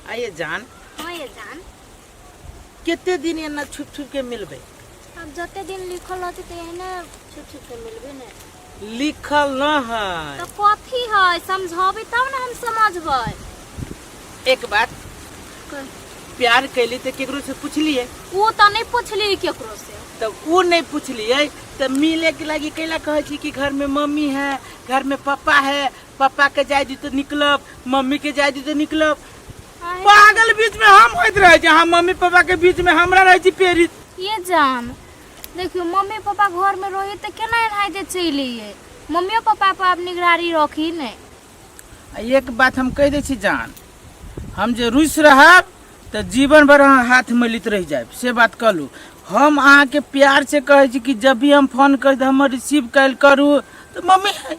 आइए जान हाँ ये जान कते दिन एना छुप छुप के मिलबे अब जते दिन लिखल रहती तो एहने छुप छुप के मिलबे ने लिखल न है तो कथी है समझाबी तब ना हम समझबै एक बात प्यार कैली तो केकरो से पूछलिए वो तो नहीं पूछली केकरो से तब वो नहीं पूछलिए तब मिले के लागी कैला कहे छी कि घर में मम्मी है घर में पापा है पापा के जाय दी तो निकलब मम्मी के जाय दी तो निकलब पागल बीच में हम होइत रहे छी हम मम्मी पापा के बीच में हमरा रहे छी पेरिस ये जान देखियो मम्मी पापा घर में रही तो केना एनाइ जे चलि अइयै मम्मियो पापा पर आब निगरानी रखी ने आ एक बात हम कह दै छी जान हम जे रुस रहब तऽ जीवन भर अहाँ हाथ मलित रह जायब से बात कहलू हम अहाँके प्यार से कहै छी कि जब भी हम फोन करी तऽ हमर रिसीव कयल करू तऽ मम्मी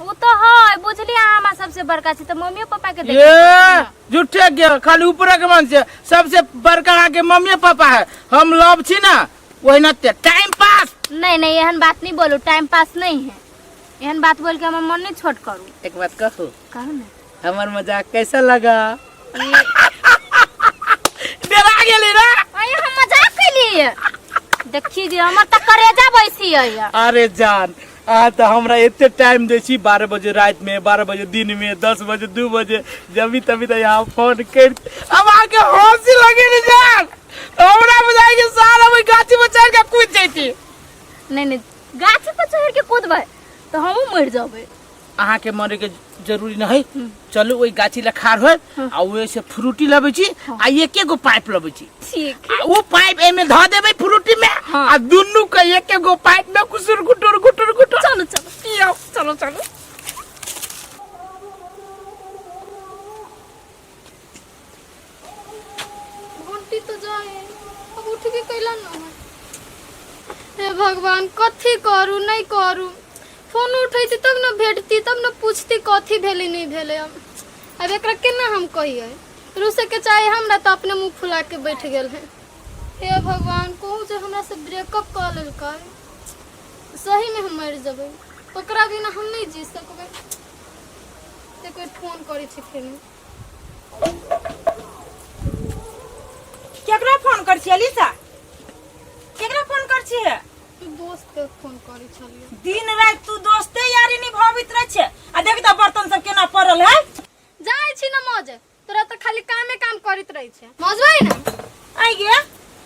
उ तो है बुझली अहाँ हमरा सबसे बड़का छी तो मम्मी पापा के देख ये झूठे के खाली ऊपरे के मन से सबसे बड़का अहाँ के मम्मी पापा है हम लव छी ना वही ना ते टाइम पास नहीं नहीं एहन बात नहीं बोलू टाइम पास नहीं है एहन बात बोल के हमर मन नहीं छोट करू एक बात कहू कहू ना हमर मजाक कैसा लगा डरा गेली ना अरे हम मजाक कैलिए देखी जे हमर त करेजा बैसी है अरे जान अहाँ तऽ हमरा एते टाइम दै छी बारह बजे राति में बारह बजे दिन में दस बजे दू बजे जबी तभी तऽ यहाँ फोन कर अब अहाँके हंसी लगे ने जान तऽ हमरा बुझाइ कि सारा ओहि गाछी पर चढ़ के कूद जैती नहीं नहीं गाछ पर चढ़ के कूदबै तो हमहू मर जाबे अहाँ के मरे के जरूरी न है चलू ओहि गाछी लग खाड़ होय आ ओहि से फ्रूटी लबै छी आ एके गो पाइप लबै छी ठीक आ ओ पाइप एमे धऽ देबै फ्रूटी में हाँ। आ दुनू के एके गो पाइप में कुसुर गुटुर गुटुर गुटुर चलो चलो पियो चलो चलो घंटी तो जाए है। अब उठ के कैला ना है हे भगवान कथी करू नहीं करू फोन उठैती तब ना भेटती तब ना पूछती कथी भेलै नहीं भेलै हम अब एकरा केना हम कहिए रूसे के चाहे हमरा तो अपने मुंह फुला के बैठ गेल है हे भगवान कहू जे हमरा से ब्रेकअप कऽ लेलकै सही में हम मरि जेबै ओकरा बिना हम नहीं जी सकबै एक बेर फोन करै छी फेर केकरा फोन कर छियै लिसा केकरा फोन कर छियै तू दोस्त के फोन करी छलियो दिन रात तू दोस्ते यारी निभावित रह छै आ देख त बर्तन सब केना पड़ल है जाय छी ना मौज तोरा तो खाली कामे काम करित रही छे मौजवाई ना आई गे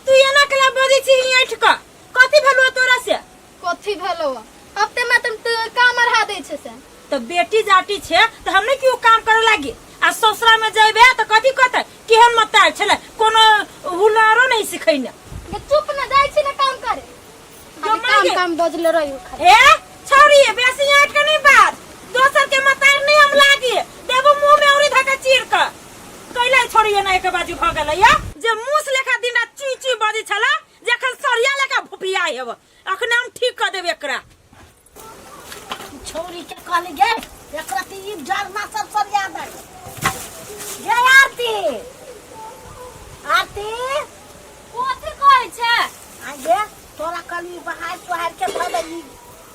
तू एना केला बजै छी ऐठ क कथी भेलौ तोरा से कथी भेलो हफ्ते में तुम तो काम अढ़ा दे छे से तो बेटी जाटी छे तो हमें क्यों काम करे लागी आ ससुरा में जेबे तो कथी कहते केहन मतार छले कोनो हुनरो नहीं सिखैने ये चुप ना जाय छी ना काम करे जो अभी मांगे। काम काम बजले रही खाली ए छोरी बेसी आट के नहीं बात दोसर के मतार नहीं हम लागी देबो मुंह में औरी धका चीर के कैला छोरी ना एक बाजू भ गेलै या जे मुस लेखा दिन रात चुई चुई बजी छला जखन सरिया लेके भुपिया हेब अखने हम ठीक कर देब एकरा छोरी के कहली गे एकरा ती ई डरना सब सब याद है गे आरती आरती कोथी कहै छै आ गे तोरा कहली बहार तोहार के धऽ देली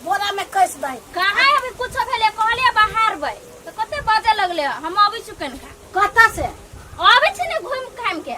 बोरा में कस दे कहाँ अभी कुछो भेलै कहलियै बाहर बै तऽ कते बाजऽ लगलै हम अबै छी कनिका कतऽ से अबै छी ने घुमि घामि के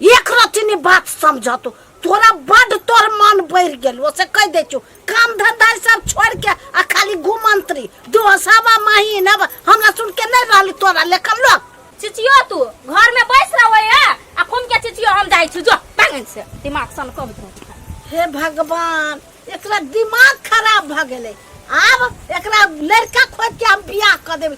एक रत्ती नहीं बात समझ तू तोरा बड तोर मन बढ़ गेल ओसे कह दे छो काम धंधा सब छोड़ के आ खाली घुमंत्री दोसवा महीना हमरा सुन के नहीं रहली तोरा लेखन लोग चिचियो तू घर में बैस रहो या आ खून के चिचियो हम जाई छु जो पागल से दिमाग सन कब दो हे भगवान एकरा दिमाग खराब भ गेले आब एकरा लड़का खोज के हम बियाह क देबे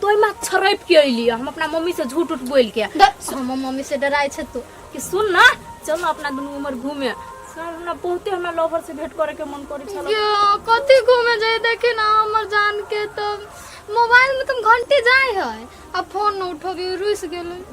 तो एहिमे छरैप के अइली हम अपना मम्मी से झूठ उठ बोल के हमर मम्मी से डराय छै तू कि सुन ना चल ना अपना दुनू उमर घूमे सर हमरा बहुते हमरा लवर से भेंट करे के मन करे छल यो कथी घूमे जाए देखे ना हमर जान के तो मोबाइल में तुम घंटे जाए है अब फोन न उठोबी रुस गेलै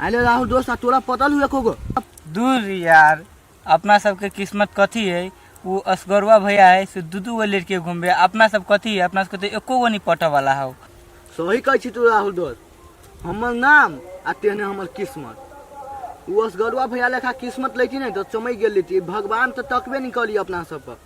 अरे राहुल दोस्त आ तोरा पता लू एको गो दूर रे यार अपना सबके किस्मत कथी है वो असगरवा भैया है से दू दू गो लड़के घूमबे अपना सब कथी है अपना सबके तो एको गो नहीं पटऽ वाला हो सही कहै छी तू राहुल दोस्त हमर नाम आ तेहने हमर किस्मत ओ असगरुआ भैया लेखा किस्मत लैती नहि तऽ चमकि गेल रहिती भगवान तऽ तकबे नहि करी अपना सब पर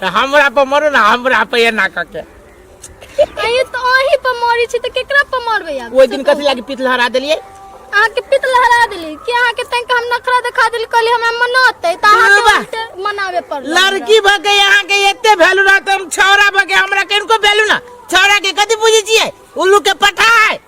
तऽ हमरा पर मरू ने हमरा पर एना कऽ के अहीं तो अहीं पर मरी छी तो केकरा पर मरबे आब ओहि दिन कथी लागी पीत लहरा देलियै अहाँ के पित लहरा देली कि अहाँ के तंग हम नखरा दिखा देली कहली हमरा मनाते त अहाँ के बाबा। उल्टे मनावे पड़ल लड़की भऽ के यहाँ के एते वैल्यू रहत हम छौरा भऽ के हमरा किनको वैल्यू ना छौरा के कथी बुझै छियै उल्लू के पठाय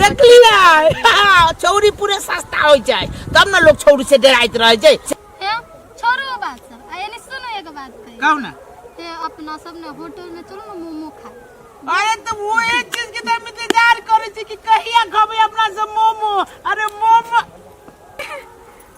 देखलियै हाँ, छौरी पूरे सस्ता हो जाए तब ना लोग छौरी से डराइत रह जाए हे छोड़ो ओ बात सब आ एने सुनो एगो बात कही कहू ना हे अपना सब ने होटल में चलो ना मोमो खाए अरे तो वो एक चीज के तो हम इंतजार करे छी कि कहिया खबे अपना से मोमो अरे मोमो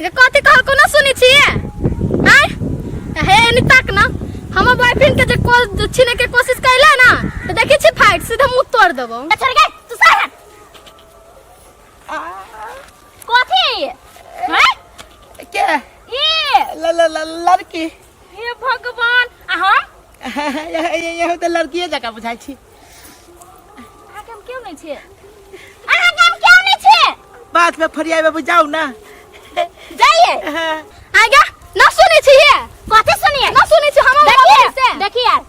जे कथी कहल कोनो सुनै छियै आय हे एनी तक ना हमर बॉयफ्रेंड के जे कॉल छीने के कोशिश कैला ना तो देखै छी फाइट सीधा मुंह तोड़ देबो छोड़ गए तू सर हट कथी है के ई ल- ल- ल- लड़की हे भगवान आ हम यही तो लड़किए जका बुझाई छी अहाँ के हम क्यों नहीं छे अहाँ के हम क्यों नहीं छे बात में फरियाबे बुझाऊ ना जाइए आगे ना सुने छी कथी सुनिए ना सुने छी हम देखिए देखिए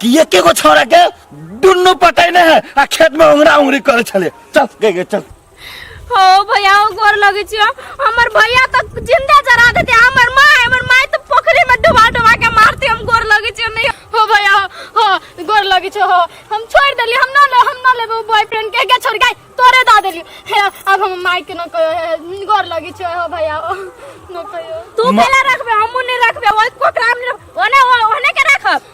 कि एके गो छौड़ा के दुनू पटैने है आ खेत में उंगरा उंगरी करे छले चल गे गे चल हो भैया हो गोर लगे छियो हमर भैया तो जिंदा जरा देते हमर माय हमर माय तो पोखरी में डुबा डुबा के मारते हम गोर लगे छियो नहीं हो भैया हो, हो गोर लगे छियो हो हम छोड़ देली हम ना ले हम ना लेबो बॉयफ्रेंड के के छोड़ गई तोरे दा देली हे, अब हम माय के न कहो हे, गोर लगे छियो हो भैया हो न कहो तू मा- केला रखबे हमू नहीं रखबे ओइ कोकराम नहीं रखबे ओने ओने के रखब